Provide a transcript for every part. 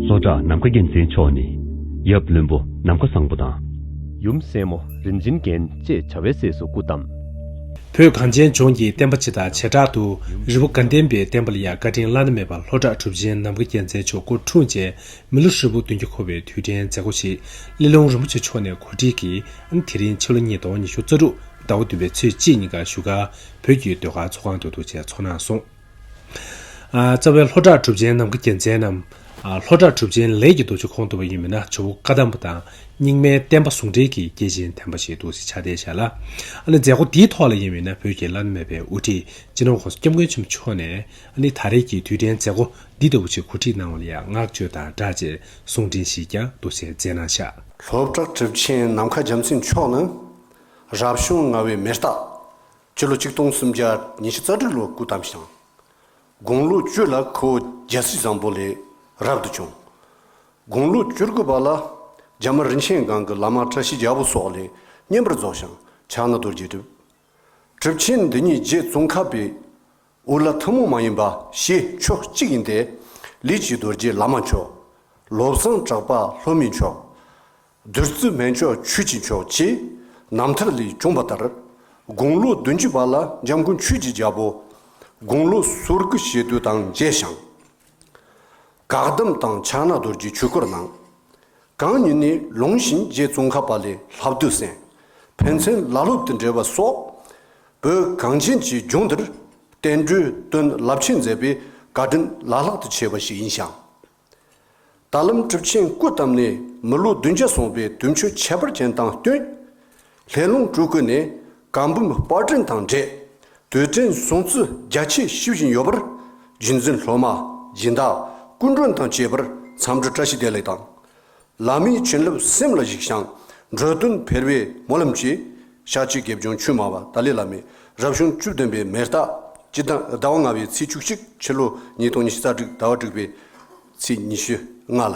སོག་བྲག་ནམ་མཁའ་རྒྱལ་མཚན་མཆོག་ནི། ཡབ་བློན་པོ་ནམ་མཁའ་བཟང་པོ་དང། ཡུམ་སྲས་མོ་རིན་ཆེན་རྒྱན་ཅེས་བྱ་བའི་སྲས་སུ་སྐུ་བལྟམས། བོད་གངས་ཅན་ལྗོངས་ཀྱི་བསྟན་པ་སྤྱི་དང་བྱེ་བྲག་ཏུ་རི་བོ་དགའ་ལྡན་པའི་བསྟན་པ་ལ་ཡང་བཀའ་དྲིན་བླ་ན་མེད་པ་ལྷོ་བྲག་གྲུབ་ཆེན་ནམ་མཁའ་རྒྱལ་མཚན་མཆོག་སྐུ་འཁྲུངས་རྗེས་མི་ལོ་ཧྲིལ་པོ་བདུན་བརྒྱ་འཁོར་བའི་དུས་དྲན་མཛད་སྒོ་ཞིག་གླེ་ལོང་རིན་པོ་ཆེ་མཆོག་ནས་གོ་སྒྲིག་གིས་དེ་རིང་ཕྱི་ལོ་ཉིས་སྟོང་ཉི་ཤུ་རྩ་དྲུག་ཟླ་བ་བདུན་པའི་ཚེས་གཅིག་ཉིན་ག་བཞུགས་སྒར་བོད་བརྒྱུད་ཟློས་གར་ཚོགས་ཁང་དུ་གདུང་བྱས་ཚོགས་གནང་སོང། རྩ་བའི་ལྷོ་བྲག་གྲུབ་ཆེན་ནམ་མཁའ་རྒྱལ་མཚན་ནམ། ལྷོ་བྲག་གྲུབ་ཆེན་ལས་ཀྱི་རྡོ་རྗེ་ཁོང་དུ་བ་ཡིན་མིན་ན་ཇོ་བོ་བཀའ་གདམས་པ་དང་རྙིང་མའི་བསྟན་པ་ཟུང་འབྲེལ་གྱི་སྐྱེས་ཆེན་དམ་པ་ཞིག་འདུག་ཅེས་ཕྱག་བསྟན་བྱས་ལ། ཨ་ནི་མཛད་སྒོ་འདིའི་ཐོག་ལ་ཡིན་མིན་ན་བོད་ཀྱི་བླ་ན་མེད་པའི་དབུ་ཁྲིད་སྤྱི་ནོར ྋགོང་ས་སྐྱབས་མགོན་ཆེན་པོ་མཆོག་ནས་ཨ་ནི་ད་རེས་ཀྱི་དུས་དྲན་མཛད་སྒོ་འདི་ལྟ་བུ་ཞིག་གོ་སྒྲིག་གནང་བ་ལ་ཡང་བསྔགས་བརྗོད་དང་སྦྲགས་རྗེས་གསུང་འཕྲིན་ཞིག་ཀྱང་འདུག་ཅེས་མཛད་གནང་བྱ། ལྷོ་བྲག་གྲུབ་ཆེན་ནམ་མཁའ་རྒྱལ་མཚན་མཆོག་ནི། རབ་བྱུང་ལྔ་བའི་མེ་སྟག། སྤྱི་ལོ་ཆིག་སྟོང་སུམ་བརྒྱ་ཉི་ཤུ་རྩ་དྲུག་ལོར་སྐུ་བལྟམས་ཤིང། དགུང་ལོ་བཅུ་ལ་ཁོ་བོ་རྒྱལ་སྲིད་བཟང་པོ་ལས་རབ་ཏུ་བྱུང། དགུང་ལོ་བཅུ་དགུ་པ་ལ་རྒྱ་དམར་རིན་ཆེན་སྒང་གི་བླ་མ་བཀྲ་ཤིས་རྒྱལ་པོ་སོགས་ལས་བསྙེན་པར་རྫོགས་ཤིང་ཕྱག་ན་རྡོ་རྗེ་བྲིས། གྲུབ་ཆེན་འདི་ཉིད་རྗེ་ཙོང་ཁ་པའི་འུར་ལ་ཐུན་མོང་མ་ཡིན་པ་ཞེས་ཕྱོགས་གཅིག་ཡིན་ཏེ། ལི་བྱི་རྡོ་རྗེ་བླ་མ་མཆོག། ལོ་བཟང་གྲགས་པ་ལྷོ་མི་མཆོག། བདུད་རྩི་སྨན་མཆོག་ཆོས་ཀྱི་མཆོག་ཅེས་རྣམ་ཐར་ལས་འབྱུང་བ་ལྟར། དགུང་ལོ་བདུན་ཅུ་པ་ལ་འཇམ་མགོན་ཆོས་ཀྱི་རྒྱལ་པོ། དགུང་ལོ་ཟུར་དགུ་ཞེ་བདུན་དང་མཇལ་ཞིང། འགག་སྡོམ་དང་ཕྱག་ན་རྡོར་གྱི་ཆོས་སྐོར་གནང། གང་ཉིད་ནས་ལུང་བཞིན་རྗེ་བཙུན་ཁ་པ་ལའི་ལྷ་བདུད་སེམས་ཕན་ཚུན་བླ་སློབ་ཏུ་འབྲེལ་བ་སོགས། བོད་གངས་ཅན་གྱི་ལྗོངས་འདིར་བསྟན་འགྲོའི་དོན་རླབས་ཆེན་མཛད་པའི་བཀའ་དྲིན་བླ་ལྷག་ཏུ་ཆེ་བ་ཞིག་ཡིན་ཞིང། ད་ལམ་གྲུབ་ཆེན་སྐུ་བལྟམས་ནས་མི་ལོ་བདུན་བརྒྱ་སོང་པའི་དུས་མཆོད་ཁྱད་པར་ཅན་དང་བསྟུན། ལྷས་རླུང་སྤྲུལ་སྐུ་ནི་གང་བུམ་དཔར་སྐྲུན་དང་འབྲེལ་དུས་དྲན་བཟུང་རྩི་རྒྱ་ཆེ་ཞུ་བཞིན་ཡོད་པར། རྒྱུན་འཛིན་སློབ་མ་སྦྱིན་བདག་སྐུ་མགྲོན་དང་བཅས་པར་མཚམས་འདྲི་བཀྲ་ཤིས་བདེ་ལེགས་དང། བླ་མའི་བྱིན་རླབས་སེམས་ལ་གཞིགས་ཤིང་འགྲོ་དོན་འཕེལ་བའི་སྨོན་ལམ་གྱིས། ཞག་གཅིག་དགེ་སྦྱོང་ཆོས་སྨྲ་བ་ཏཱ་ལའི་བླ་མས་རབ་བྱུང་བཅུ་བདུན་པའི་མེ་སྟག་སྤྱི་ཟླ་ཟླ་བ་ལྔ་བའི་ཚེས་བཅུ་གཅིག་ཕྱི་ལོ་ཉིས་སྟོང་ཉི་ཤུ་རྩ་དྲུག་ཟླ་བ་དྲུག་པའི་ཚེས་ཉི་ཤུ་ལྔ་ལ།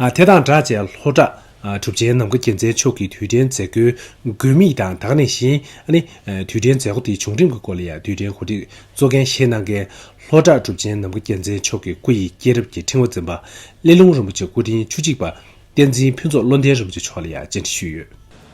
དེ་དང་སྦྲགས་བཅས་ལྷོ་བྲག་གྲུབ་ཆེན་ནམ་མཁའ་དགྱེས་མཛད་མཆོག་གི་དུས་དྲན་མཛད་སྒོའི་དགོས་དམིགས་དང་དག་གནས་བཞིན་ནི། དུས་དྲན་མཛད་སྒོ་དེའི་བྱུང་རིམ་གྱི་སྐོར་ལ་ཡང་དུས་དྲན་གོ་སྒྲིག་གཙོ་འགན་བཞེས་གནང་མཁན་ལྷོ་བྲག་གྲུབ་ཆེན་ནམ་མཁའ་དགྱེས་མཛད་མཆོག་གི་སྐུ་ཡི་སྐྱེས་རབས་ཀྱི་ཕྲེང་བ་འཛིན་པ་གླེ་ལུང་རིན་པོ་ཆེ་སྐུ་ཕྲེང་བཅུ་གཅིག་པ་བསྟན་འཛིན་ཕུན་ཚོགས་བློ་ལྡན་རིན་པོ་ཆེ་མཆོག་ལ་ཡང་བཅར་འདྲི་ཞུས་ཡོད།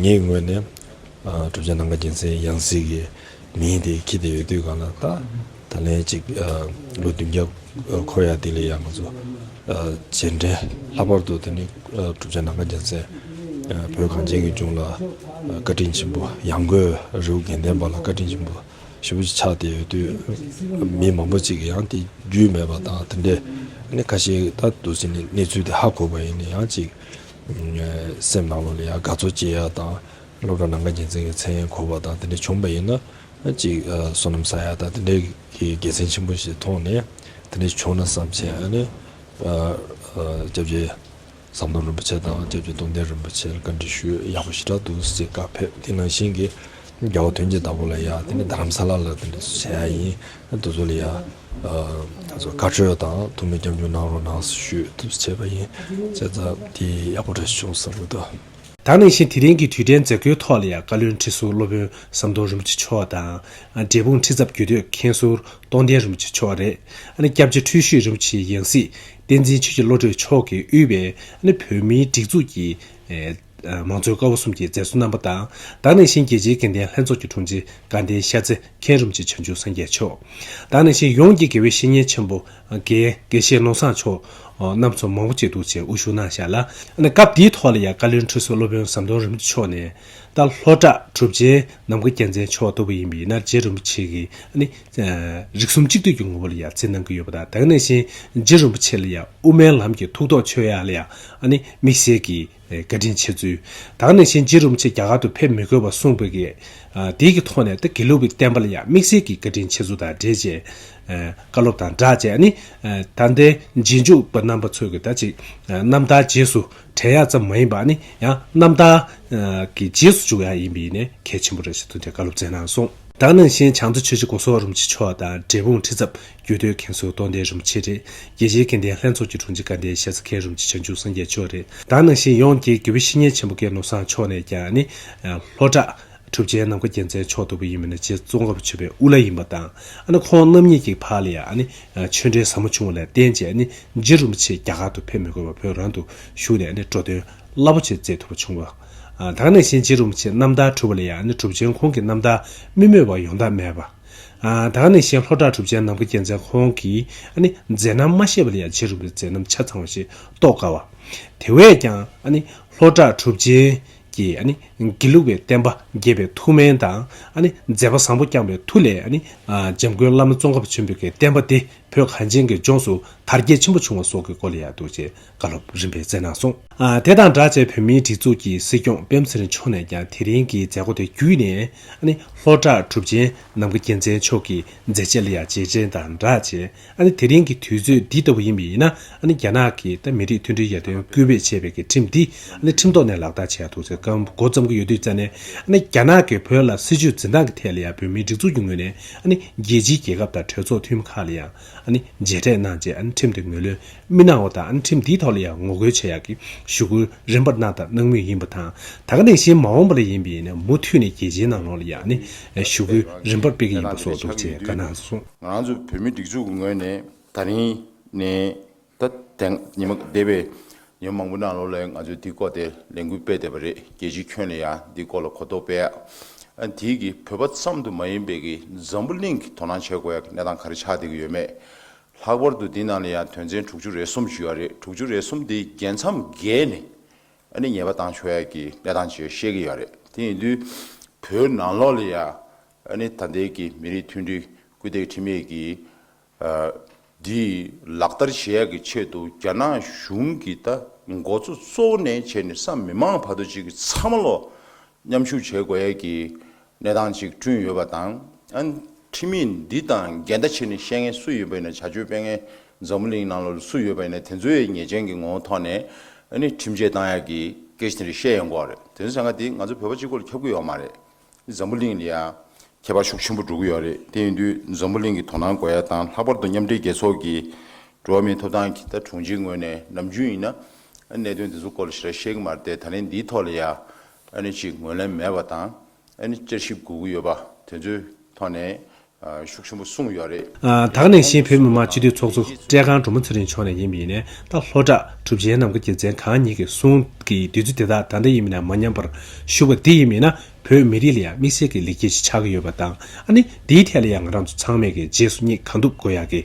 ངའི་ངོས་ནས། གྲུབ་ཆ་ནམ་མཁའ་རྒྱལ་མཚན་ཡང་སྲིད་ཀྱི་མི་ཡིན་ཏེ་ཁྱི་དེ་ཡོད་དུས་གང་ལ་བལྟ། ད་ལན་ཅིག་ལོ་བདུན་བརྒྱ་འཁོར་ཡག་དེ་ལས་ཡག་མི་འཚོ། རྗེས་འབྲེལ་ལྷག་པར་དུ་དེ་ནི་གྲུབ་ཆ་ནམ་མཁའ་རྒྱལ་མཚན། བོད་གངས་ཅན་གྱི་ལྗོངས་ལ་བཀའ་དྲིན་ཆེན་པོ་ཡང་སྒོས་རེའུ་དགེ་ལྡན་པ་ལ་བཀའ་དྲིན་ཆེན་པོ་ཞེ་པོ་ཅིག་ཆགས་དེ་ཡོད་དུས། མི་མང་པོ་ཅིག་གིས་ཡང་དེ་རྒྱུས་མེད་པ་དང་དེ་འདྲའི་ཁ་ཞེ་ད་དུ་ཟིན་ནས་གནས་ཚུལ་དེ་ཧ་གོ་བ་ཡིན་ན་ཡང་ཅིག། སེམས་ནང་ལོགས་ལ་ཡང་དགའ་ཚོར་སྐྱེ་ཡག་དང། སློབ་གྲྭ་ནང་ཁ་རྒྱལ་མཚན་གྱི་མཚན་ཡང་འཁོར་བ་དང་དེ་འདྲ་བྱུང་པ་ཡིན་ན། གཅིག་བསོད་ནམས་ས་ཡ་དང་དེ་འདྲ་གི་དགེ་མཚན་ཆེན་པོ་ཞིག་མཐོང་ནས་དེ་འདྲ་བྱུང་ན་བསམ་ཆེ་ཨ་ནི། སྐྱབས་རྗེ་ཟམ་གདོང་རིན་པོ་ཆེ་དང་སྐྱབས་རྗེ་སྟོང་ལྡན་རིན་པོ་ཆེ་ལ་བཀའ་འདྲི་ཞུས་ཡག་པོ་ཞེ་དྲག་འདུག་ཅེས་བཀའ་ཕེབས་དེ་ནང་བཞིན་གྱི་རྒྱལ་བ་དོན་གྱི་བདག་པོ་ལ་ཡང་དེ་ནས་རྡ་རམ་ས་ལ་ལ་དེ་འདྲ་བྱས་ཡག་ཡིན་དུ་ཚོ་ལ་ཡང། བཀའ་ཁྲོལ་དང་ཐུགས་མི་སྐྱབས་འཇུག་གནང་རོགས་གནང་ཞུས་ཐུབ་བྱས་པ་ཡིན། བྱས་ཙང་དེ་ཡག་པོ་རེད་བྱུང་བསམ་འདུག། ད་ནང་བཞིན་དེ་རིང་གི་དུས་དྲན་མཛད་སྒོའི་ཐོག་ལ་ཡང་བཀའ་བློན་ཁྲི་ཟུར་སློབ་དཔོན་ཟམ་གདོང་རིན་པོ་ཆེ་མཆོག་དང། འབྲས་སྤུངས་ཁྲི་ཚབ་རྒྱུད་སྟོད་མཁན་ཟུར་སྟོང་ལྡན་རིན་པོ་ཆེ་མཆོག་རེད། སྐྱབས་རྗེ་ཁྲུས་བཞུགས་རིན་པོ་ཆེའི་ཡང་སྲིད་བསྟན་འཛིན་ཆོས་རྗེ་བློ་གྲོས་མཆོག་གིས་དབུས་པའི་བོད་མིའི་སྒྲིག་འཛུགས་ཀྱི། མང་གཙོའི་སྐ་བོ་གསུམ་གྱི་མཛད་གཙོ་རྣམ་པ་དང་ད་ནས་བཞིན་རྒྱལ་སྤྱིའི་དགེ་ལྡན་ལྷན་ཚོགས་ཀྱི་དྲུང་ཆེ་དགའ་ལྡན་ཤ་ཚེ་མཁྱེན་རུམ་གྱི་བྱང་ཆུབ་སངས་རྒྱས་མཆོག་ད་ནས་བཞིན་ཡོངས་ཀྱི་དགེ་བའི་བཤེས་གཉེན་ཆེན་པོ་དགེ་བཤེས་ནོར་བཟང་མཆོག་རྣམས་ཚོ་མང་བོ་བཅས་གདུལ་བྱའི་དབུ་བཞུགས་གནང་བཞག་ལ། སྐབས་འདིའི་ཐོག་ལ་ཡང་བཀའ་བློན་ཁྲི་ཟུར་སློབ་དཔོན་ཟམ་གདོང་རིན་པོ་མཆོག་ནས་ད་ལྷོ་བྲག་གྲུབ་ཆེན་ནམ་མཁའ་རྒྱལ་མཚན་མཆོག་ལྟ་བུ་ཡིན་པའི་རྣལ་འབྱེད་རིན་པོ་ཆེ་གིས་ནི། རིགས་གསུམ་གཅིག་བསྡུས་ཀྱི་ངོ་བོ་ལ་ཡང་རྩིས་གནང་གི་ཡོད་པ་དང་དེ་ག་ནས་བཞིན་རྗེ་རིན་པོ་ཆེ་ལ་ཡང་དབུ་མའི་ལམ་གྱི་ཐུགས་དོགས་ཆོས་ཡག་ལ་ཡང་དམིགས་བསལ་གྱིས་བཀའ་དྲིན་ཆེ་ཚུལ། ད་ནས་བཞིན་རྗེ་རིན་པོ་ཆེ་རྒྱ་གར་དུ་ཕེབས་མི་དགོས་པ་གསུངས་པའི་གེགས་དེའི་གི་ཐོག་ནས་ད་དགེ་ལུགས་ཀྱི་བསྟན་པ་ལ་ཡང་དམིགས་བསལ་གྱིས་བཀའ་དྲིན་ཆེ་ཚུལ་དང་འབྲེལ་བཅས་བཀའ་སློབ་དང་སྦྲགས་བཅས་ད་ལྟའི་རྗེས་འཇུག་པ་རྣམ་པ་ཚོས་ཀྱི་ད་ཅིག་རྣམ་ཐར་རྗེས་སུ་བྲལ་ཡག་ཙམ་མ་ཡིན་པ་ནི་ཡང་རྣམ་དག། གི་རྗེས་སུ་འཇུག་བ་ཡང་ཡིན་པས་ནི་གལ་ཆེན་པོ་རེད་ཅེས་ཐུགས་མཐའི་བཀའ་སློབ་སྩལ་གནང་སོང། བདག་ནང་བཞིན་བྱང་རྩེ་ཆོས་རྗེ་སྐུ་སོགས་རིན་པོ་ཆེ་མཆོག་དང་འབྲས་སྤུངས་ཁྲི་ཚབ་རྒྱུད་སྟོད་མཁན་ཟུར་སྟོང་ལྡན་རིན་པོ་ཆེ་རེད། རྒྱལ་སྤྱིའི་སྐལ་ལྡན་ལྷན་ཚོགས་ཀྱི་དྲུང་ཆེ་དགའ་ལྡན་ཞལ་རྩེ་མཁན་རིན་པོ་ཆེ་བྱང་ཆུབ་སངས་རྒྱས་མཆོག་རེད། བདག་ནང་བཞིན་ཡོངས་ཀྱི་དགེ་བའི་བཤེས་གཉེན་ཆེན་པོ་གེ་མོ་བཟང་མཆོག་ནས་ཀྱང་ནི། ལྷོ་བྲག། གྲུབ་ཆེན་ནམ་མཁའ་རྒྱལ་མཚན་མཆོག་ལྟ་བུ་ཡིན་པས་ན་རྗེ་བཙུན་དགའ་བོ་ཆོས་པའི་དབུ་བླ་ཡིན་པ་དང་ཨ་ནི་ཁོང་རྣམ་གཉིས་ཀྱི་བར་ལ་ཡང་ཨ་ནི་ཆོས་འབྲེལ་ཟབ་མོ་བྱུང་བ་ལས་བརྟེན་རྗེ་ཨ་ནི་རྗེ་རིན་པོ་ཆེ་རྒྱ་གར་དུ་ཕེབས་མི་དགོས་པར་བོད་རང་དུ་བཞུགས་ནས་ཨ་ནི་འགྲོ་དོན་རླབས་པོ་ཆེ་མཛད་ཐུབ་པ་བྱུང། དང་ནས་བཞིན་རྗེ་རིན་པོ་ཆེ་རྣམ་ཐར་གྲུབ་པ་ལ་ཡང་ཨ་ནི་གྲུབ་ཆེན་ཁོང་གི་རྣམ་ཐར་རྨི་སྨོད་པ་ཡོང་ཐབས་མེད་པ། དང་ནས་བཞིན་ལྷོ་བྲག་གྲུབ་ཆེན་ནམ་མཁའ་རྒྱལ་མཚན་ཁོང་གིས་ཨ་ནི་མཛད་རྣམ་མ་ཤེས་པ་ལ་ཡང་རྗེ་རིན་པོ་ཆེ་མཛད་རྣམ་ཆ་ཚང་བ་ཞིག་རྟོགས་དཀའ་བ། དེ་བས་ཀྱང་ཨ་ནི་ལྷོ་བྲག་གྲུབ་ཆེན་ཀྱི། དགེ་ལུགས་པའི་བསྟན་པ་རྒྱས་པའི་ཐུགས་སྨོན་དང། མཛད་པ་བཟང་པོ་བསྐྱངས་པའི་མཐུ་ལས། འཇམ་མགོན་བླ་མ་ཙོང་ཁ་བ་ཆེན་པོས་ཀྱི་བསྟན་པ་འདི་བོད་གངས་ཅན་གྱི་ལྗོངས་སུ་དར་རྒྱས་ཆེན་པོ་བྱུང་བ་སོགས་ཀྱི་སྐོར་ལ་ཡག་སྡུག་ཅེས་བཀའ་སློབ་རིམ་པས་བསྩལ་གནང་སོང། དེ་དང་སྦྲགས་བཅས་བོད་མིའི་སྒྲིག་འཛུགས་ཀྱི་སྲིད་སྐྱོང་སྤེན་ཚེ་རིང་མཆོག་ནས་ཀྱང་དེ་རིང་གི་མཛད་སྒོ་དེ་བརྒྱུད་ནས། ལྷོ་བྲག་གྲུབ་ཆེན་ནམ་མཁའ་རྒྱལ་མཚན་མཆོག་གི་མཛད་རྗེས་ལ་ཡང་རྗེས་དྲན་དང་སྦྲགས་བཅས་ཨ་ནི་དེ་རིང་གི་དུས་ཚོད་འདི་ལྟ་བུ་ཡིན་པ་ཡིན་ན་ཨ་ནི་རྒྱ་ནག་གིས་ད་མི་རིགས་མཐུན་སྒྲིལ་ཡར་ཐོན་སྐུལ་སྤེལ་བྱེད་པའི་གི་ཁྲིམས་འདི་ཨ་ནི་ཁྲིམས་ཐོག་ནས་ལག་བསྟར་བྱས་འདུག་ཚེ་སྐབས་མགོ་བརྩམས་ཀྱི་ཡོད་དུས་རྩ་ནས་ཨ་ནི་རྒྱ་ནག་གིས་བོད་ལ་སྲིད་ཇུས་འཛིན་སྟངས་ཀྱི་ཐད་ལ་ཡང་བོད་མིའི་སྒྲིག་འཛུགས་ཀྱི་ངོས་ནས་ཨ་ནི་རྒྱལ་སྤྱིའི་རྒྱལ་ཁབ་དང་གྲོས་ཚོགས་འཐུས་མི་ཁག་ལ་ཡང་ཨ་ནི་མཇལ་འཕྲད་གནང་རྗེས་ཨ་ནི་ཁྲིམས་དེ་ངོས་ལོན་མི་གནང་བ་དང་ཨ་ནི་ཁྲིམས་འདིའི་ཐོག་ལ་ཡང་ངོ་རྒོལ་བྱེད་ཡག་གི་ཞུ་སྐུལ་རིམ་པར་གནང་དང་གནང་མུས་ཡིན་པ་དང་ད་ག་ནས་གཞན་མ་འོངས་པ་ལ་ཡིན་པ་ཡིན་ན་མུ་མཐུད་ནས་རྒྱལ་སྤྱིའི་ནང་ལོགས་ལ་ཡང་ཨ་ནི་ཞུ་སྐུལ་རིམ་པར་སྤེལ་གི་ཡིན་པ་སོགས་འདུག་ཅེས་བཀའ་གནང་སོང། ང་རང་ཚོ་བོད་མི་སྒྲིག་འཛུགས་ཀྱི་ངོས་ནས་ད་རིང་ནས་ད་ཐེངས་ཉི་མ་འདས་པའི་ཉི་མ་མང་པོའི་ནང་ལོགས་ལས་ང་ཚོས་འདི་སྐོར་དེ་ལས་འགུལ་སྤེལ་བསྡད་པ་རེད་རྒྱལ་སྤྱིའི་ཁྱོན་ནས་ཡང་འདི་སྐོར་ལ་གོ་རྟོགས་སྤེལ་ཡག་དེའི་གི་བོད་པ་ཙམ་དུ་མ་ཡིན་པའི་གི་འཛམ་བུ་གླིང་གི་དོ་སྣང་བྱེད་དགོས་ཡག་གི་གནས་སྟངས་ག་རེ་ཆགས་བསྡད་ཀྱི་ཡོད་མེད་ལྷག་པར་དུ་འདི་ནང་ལ་ཡང་དོན་ཚན་དྲུག་ཅུ་རེ་གསུམ་བཞུགས་ཡག་རེད་དྲུག་ཅུ་རེ་གསུམ་དེའི་རྒྱལ་མཚམས་བརྒལ་ནས་ཨ་ནི་ཉེས་པ་བཏང་ཆོག་ཡག་གི་གནས་སྟངས་བཅས་ཤེས་ཀྱི་ཡག་རེད་དེ་ཡིན་དུས་བོད་ནང་ལོགས་ལ་ཡང་ཨ་ནི་ད་ལྟའི་ཀྱི་མི་རིགས་མཐུན་སྒྲིལ་སྐུལ་འདེད་ཁྲིམས་ཡིག་གི་འདི་ལག་བསྟར་བྱེད་ཡག་གི་ཆེད་དུ་རྒྱ་ནག་གཞུང་གི་ད་མགོ་གཙོ་གཙོ་བོ་ནས་བྱས་ནས་སམ་མི་མང་བར་དུ་གཅིག་གི་ཚ་མ་ལོ་མཉམ་ཞུགས་བྱེད་དགོས་ཡག་གི་གནས་སྟངས་གཅིག་བསྐྲུན་ཡོད་པ་དང་ཨ་ནི་ཁྲིམས་ཡིག་འདི་དང་འགལ་ཟླ་བྱེད་ནས་བཤད་མཁན་སུ་ཡོད་པ་ཡིན་ན་བྱ་སྤྱོད་སྤེལ་མཁན་འཛམ་བུ་གླིང་ནང་ལོ་ལ་སུ་ཡོད་པ་ཡིན་ན་དེ་ཚོ་ཡི་ཉེས་ཅན་གི་ངོ་བོ་ཐོག་ནས་ཨ་ནི་ཁྲིམས་ཆད་གཏང་ཡག་གི་སྐད་ཆ་དེ་རིགས་བཤད་ཡོང་དགོས་རེད་དེ་ཚོ་བྱ་འགའ་དེ་ང་ཚོ་བོད་པ་གཅིག་པོ་ལ་ཁྱབ་གི་ཡོད་མ་རེད། འཛམ་བུ་གླིང་ལ་ཡང་ཁྱད་པར་ཤུགས་ཆེན་པོ་འགྲོ་གི་ཡོད་རེད་དེ་ཡིན་དུས་འཛམ་བུ་གླིང་གི་དོ་སྣང་དགོས་ཡ་དང་ལྷག་པར་དུ་མཉམ་འབྲེལ་རྒྱལ་ཚོགས་ཀྱི་འགྲོ་བ་མིའི་ཐོབ་ཐང་གི་ད་དྲུང་ཆེའི་ངོས་ནས་ནམ་རྒྱུན་ཡིན་ན་གནད་དོན་དེ་ཚོ་སྐོར་ལ་ཞེ་དྲག་བཤད་གི་མ་རེད་ད་ནི་འདིའི་ཐོག་ལ་ཡང་ཅིག་ངོས་ལེན་མེད་པ་དང་བསྐྱར་ཞིབ་དགོས་ཀྱི་ཡོད་པ་དེ་ཚོའི་ཐོག་ནས་ཤུགས་ཆེན་པོ་གསུངས་ཡོད་རེད། དྭགས་ནས་གཞིས་བོད་མི་མང་སྤྱི་འཐུས་ཚོགས་གཙོ་བཀྲས་ཁང་འབྲུག་མོ་ཚེ་རིང་མཆོག་ནས་ཡིན་པ་ཡིན་ནས་ད་ལྷོ་བྲག་གྲུབ་ཆེན་ནམ་མཁའ་རྒྱལ་མཚན་གང་ཉིད་ཀྱི་གསུང་གི་བདུད་རྩི་དེ་དག་ད་ལྟ་ཡིན་མིན་ན་མ་ཉམས་པར་བཞུགས་པ་འདི་ཡིན་མིན་ན་བོད་མི་རིགས་ལ་ཡང་དམིགས་བསལ་གྱི་ལེགས་སྐྱེས་ཤིག་ཆགས་ཀྱི་ཡོད་པ་དང་ཨ་ནི་འདིའི་ཐད་ལ་ཡང་ང་རང་ཚོ་ཚང་མས་ཀྱི་རྗེས་སུ་སྙེག་གང་ཐུབ་དགོས་ཡག་གི་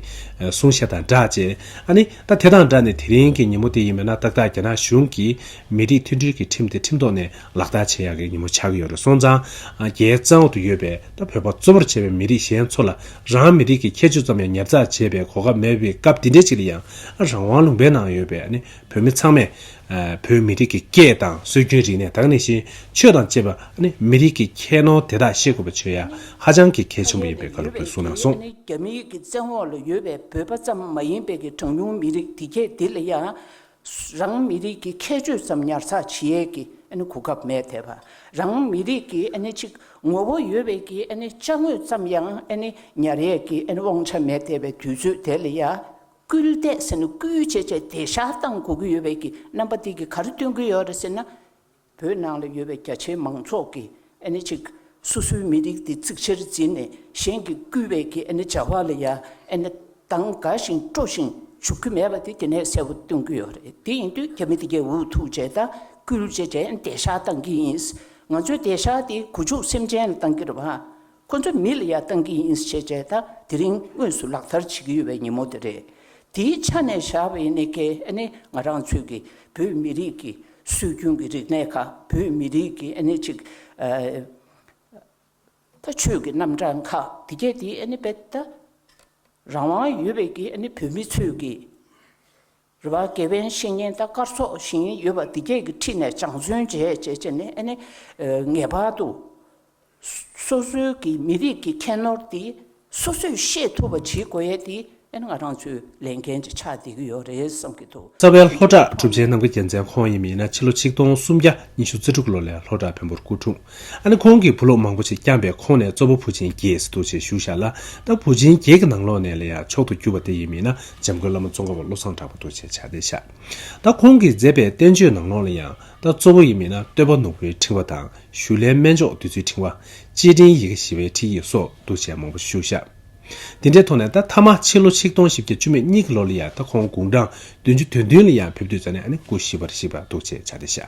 གསུང་བཤད་དང་སྦྲགས་བཅས་ཨ་ནི་ད་དེ་དང་སྦྲགས་ནས་དེ་རིང་གི་ཉིན་མོ་དེ་ཡིན་མིན་ན་ཏག་ཏག་རྒྱ་ནག་གཞུང་གིས་མི་རིགས་མཐུན་སྒྲིལ་གྱི་ཁྲིམས་དེ་ཁྲིམས་ཐོག་ནས་ལག་བསྟར་བྱེད་ཡག་གི་ཉིན་མོ་ཆགས་ཀྱི་ཡོད་རེད་སོང་ཙང་རྒྱའི་གཙང་བོ་དུ་ཡོད་པའི། ད་བོད་པ་གཙོ་བོར་བྱས་པའི་མི་རིགས་གཞན་ཚོ་ལ་རང་མི་རིགས་ཀྱི་ཁྱད་ཆོས་ཙམ་ཡང་ཉར་ཚགས་བྱེད་པའི་གོ་སྐབས་མེད་པའི་སྐབས་འདི་འདྲའི་ཅིག་ལ་ཡང་རང་དབང་ལུང་པའི་ནང་ཡོད་པའི་བོད་མི་ཚང་མས། བོད་མི་རིགས་ཀྱི་སྐད་དང་སྲོལ་རྒྱུན་རིག་གནས་དག་ནི་ཞེས་ཆོས་དང་བཅས་པ། མི་རིགས་ཀྱི་ཁྱད་ནོར་དེ་དག་ཤེས་དགོས་པ་ཆོས་ཡ་ཧ་ཅང་གི་གལ་ཆེན་པོ་ཡིན་པའི་བཀའ་སློབ་དགོས་གསུངས་གནང་སོང། རྒྱ་མི་ཡིག་གི་བཙན་འོག་ལ་ཡོད་པའི་བོད་པ་ཙམ་མ་ཡིན་པའི་གི་གྲངས་ཉུང་མི་རིགས་དེ་གས་དེ་ལ་ཡང་རང་མི་རིགས་ཀྱི་ཁྱད་ཆོས་ཙམ་ཉར་ཚགས་བྱེད་ཡས་ཀྱི་གོ་སྐབས་མེད་དེ། རང་མི་རིགས་ཀྱི་ཆིག་ངོ་བོ་ཡོད་པའི་ཀྱི་བཅའ་དངོས་ཙམ་ཡང་ཉར་ཡས་ཀྱི་དབང་ཆ་མེད་དེ་བའི་དུས་ཚོད་དེ་ལ་ཡང་སྐུལ་འདེད་སྐུལ་བྱེད་བྱས་ཏེ་ཤ་སྟངས་གོ་གི་ཡོད་པའི་ཀྱི་རྣམ་པ་དེ་གི་གར་སྟོན་གི་ཡོད་རེད་ཟེར་ན། བོད་ནང་ལ་ཡོད་པའི་རྒྱ་ཆེའི་མང་ཚོགས་ཀྱིས་ཨེ་ནི་ཅིག་སོ་སོའི་མི་རིགས་དེ་གཙིགས་ཆེར་འཛིན་ནས་གཞན་གྱིས་བསྐུལ་བའི་གི་ཨེ་ནི་བྱ་བ་ལ་ཡ་ཨེ་ནི་འདང་དགའ་ཞིང་སྤྲོ་ཞིང་འཇུག་གི་མེད་པ་དེ་དེ་ནས་གསལ་བོ་སྟོན་གི་ཡོད་རེད་དེ་ཡིན་དུས་རྒྱ་མི་དེ་གས་འུ་ཐུག་བྱས་དང་སྐུལ་བྱེད་དྲན་བདེ་བཞག་གཏང་གི་ཡིན་ང་ཚོས་བདེ་བཞག་དེ་གུ་ཆུག་སེམས་ཅན་ལ་གཏང་གི་རེད་བ། ཁོ་ཚོ་མི་ལ་ཡ་བཏང་གི་ཡིན་ཞེས་བྱས་ད་དེ་རིང་དངོས་སུ་ལག་བསྟར་བྱེད་ཀྱི་ཡོད་པའི་ཉིན་མོ་དེ་རེད། དེའི་ཆ་ནས་བཞག་པའི་གནད་ཁེལ་ནི་ང་རང་ཚོས་ཀྱི་བོད་མི་རིགས་ཀྱི་སྲོལ་རྒྱུན་གྱི་རིག་གནས་ཁག་བོད་མི་རིགས་ཀྱི་གནད་ཆིག་ད་ཆོས་ཀྱི་རྣམ་གྲངས་ཁག་དེ་གས་དེ་དཔེ་ད་རང་དབང་ཡོད་པའི་གི་བོད་མི་ཚོས་ཀྱི། རེ་བ་དགེ་བའི་བཤེས་གཉེན་ལྟ་དཀར་སོགས་བཞིན་ཡོད་པ་འདི་སྐད་ཀྱི་ཁྲིད་ནས་སྦྱངས་བརྩོན་བྱས་བྱས་བྱས་ནས་ཨ་ནི། ངེས་པར་དུ། སོ་སོའི་གི་མི་རིགས་ཀྱི་ཁྱད་ནོར་དེ་སོ་སོས་ཤེས་ཐུབ་པ་བྱེད་དགོས་ཡས་དེ་ཨ་ནི་ང་རང་ཚོའི་ལས་འགན་གྱི་ཆ་འདེགས་ཀྱི་ཡོད་རེད་བསམ་གྱི་འདུག། རྩ་བའི་ལྷོ་བྲག་གྲུབ་ཆེན་ནམ་མཁའ་རྒྱལ་མཚན་ཁོང་ཡིན་མིན་ན་ཕྱི་ལོ་ཆིག་སྟོང་སུམ་བརྒྱ་ཉི་ཤུ་རྩེ་དྲུག་ལོ་ལས་ལྷོ་བྲག་བོན་པོར་སྐུ་འཁྲུངས། ཨ་ནི་ཁོང་གིས་བུ་ལོག་མང་པོ་ཞིག་བསྐྱངས་པས་ཁོང་ནས་གཙོ་བོ་བུ་ཆེན་གྱིས་སི་ཏུ་ཆེ་བཞུགས་ཤག་ལ་ད་བུ་ཆེན་གྱིས་ཀྱི་ནང་ལོག་ནས་ལ་ཡག་མཆོག་ཏུ་གྱུར་པ་དེ་ཡིན་མིན་ན་འཇམ་མགོན་བླ་མ་ཙོང་ཁ་བ་བློ་བཟང་གྲགས་པ་ཏུ་ཆེ་ཕྱག་འདེད་ཤག་ད་ཁོང་གིས་མཛད་པའི་བསྟན་བཅོས་ནང་ལོག་ལ་ཡང་ད་གཙོ་བོ་ཡིན་མིན་ན་སྟོད་པ་ནོར་བུའི་ཕྲེང་བ་དང་ཞུ་ལྷའི་སྨན་མཆོག་བདུད་རྩིའི་ཕྲེང་བ། སྤྱིའི་འབྲིང་ཡི་གེ་ཞི་བའི་ཁྲིད་ཡིག་སོགས་ཏུ་ཆེ་མང་པོ་བཞུགས་ཤག་དེ་འདྲའི་ཐོག་ནས་ད་མཐའ་མ་ཕྱི་ལོ་ཆིག་སྟོང་བཞི་བརྒྱ་བཅུ་མེད་གཉིས་ཀྱི་ལོ་ལ་ཡང་ད་ཁོང་དགུང་གྲངས་བདུན་ཅུ་དོན་བདུན་ལ་ཡང་ཕེབས་དུས་ད་ནི་ཨ་ནི་སྐུ་ཞི་བར་གཤེགས་པ་ཏུ་ཆེ་ཕྱག་འདེད་ཤག།